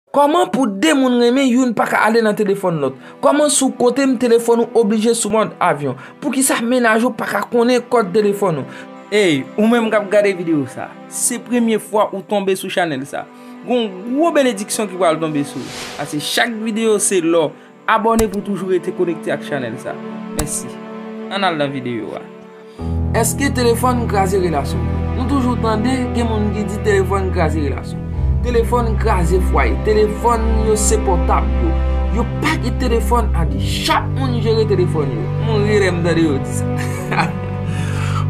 Kòman pou 2 moun renmen youn paka ale nan telefòn lòt? Kòman si w kote m telefòn ou oblije sou mòd avyon? Poukisa mennaj ou paka konnen kòd telefòn ou? Ey ou menm kap gade video sa, se premye fwa ou tonbe sou chanèl sa, gon gwo benediksyon ki pral tonbe sou ou, pase chak video se lò Abòne pou toujou rete konekte ak chanèl sa. Mèsi. Ann al nan videyo a. Eske telefòn kraze relasyon? Nou toujou tande gen moun ki di telefòn kraze relasyon. Telefòn kraze fwaye. Telefòn yo se pòtab yo. Yo pa gen telefòn a 2. Chak moun jere telefòn yo. M ri lè m tande yo di sa.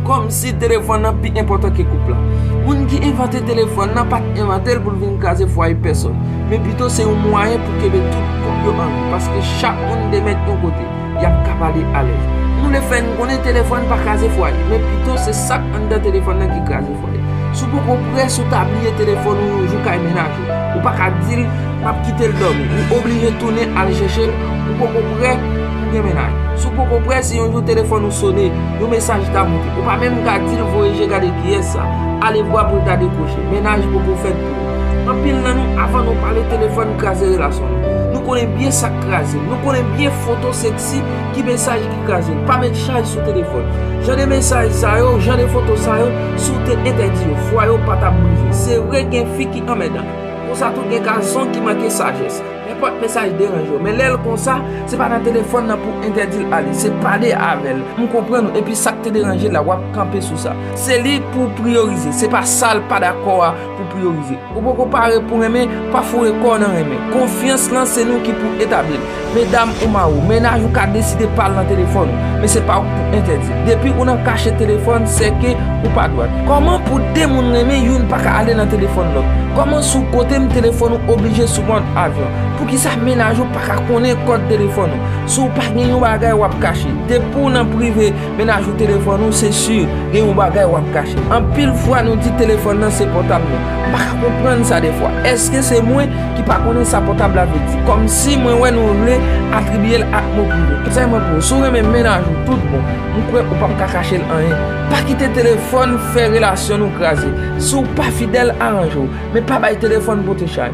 Kòmsi telefòn nan pi enpòtan ke koup la. Moun ki envante telefòn nan pat envante l pou l vin kraze fwaye pèsòn, men pito se yon mwayen pou kenbe tout koup yo anvi paske chak moun te mèt yon kote, y ap ka pale alèz. Nou vle fè n konnen telefòn pa kraze fwaye, men pito se sak anndan telefòn nan ki kraze fwaye. Si w poko prè, si w ta bliye telefòn ou yon jou kay mennaj. Ou pa ka di l, m ap kite l dòmi. Ou oblije tounen al chèche l. Ou poko prè pou w gen mennaj. Si w poko prè, si yon jou telefòn ou sone, yon mesaj ta monte. Ou pa menm ka di l voye je gade kiyès sa. Alevwa pou l ta dekwoche. Mennaj poko fèt pou ou. Anpil nan nou, avan nou pale telefòn kraze relasyon nou. Nou konnen byen sa k kraze l. Nou konnen byen foto seksi. Ki mesaj ki kraze l? Pa met chaj sou telefòn. Jan de mesaj sa yo, jan de foto sa yo, si w te entèdi yo, fwaye w pa t ap brize. Se vre gen fi ki anmèdan. Konsa tou gen gason ki manke sajès. Nenpòt mesaj deranje yo. Men lè l konsa, se pa nan telefòn nan pou w entèdi l ale. Se pale avè l. M konprann ou. Epi sa k te deranje l la, w ap kanpe sou sa. Se li pou w priyorize. Se pa sa l pa dakò a. pou pou yo rive. Ou poko pare pou renmen, pa foure kòw nan renmen. Konfyans lan se nou ki pou etablil. Medam ou mariw, mennaj ou ka deside pal nan telefòn ou, men se pa ou ki pou entèdil. Depi ou nan kache telefòn, se ke ou pa dwat. Kòman pou 2 moun renmen, youn paka ale nan telefòn lòt? Kòman si w kotem telefòn ou oblije sou mòd avyon? Poukisa mennaj ou paka konnen kòd telefòn ou? Si w pa gen yon bagay wap kache, depi w nan prive, Mennaj ou telefòn ou se si gen yon bagay wap kache. Anpil fwa nou di telefòn nan se pòtab nou. M pa ka konprann sa defwa. Eske se mwen ki pa konnen sa pòtab la vle di? Kòmsi mwen wè nou vle atribye l ak mo prive. Konsèy mwen pou ou, si w renmen mennaj ou tout bon, m kwè ou pap ka kache l anyen. Pa kite telefòn fè relasyon nou kraze. Si w pa fidèl, aranje w. Men pa bay telefòn pote chay.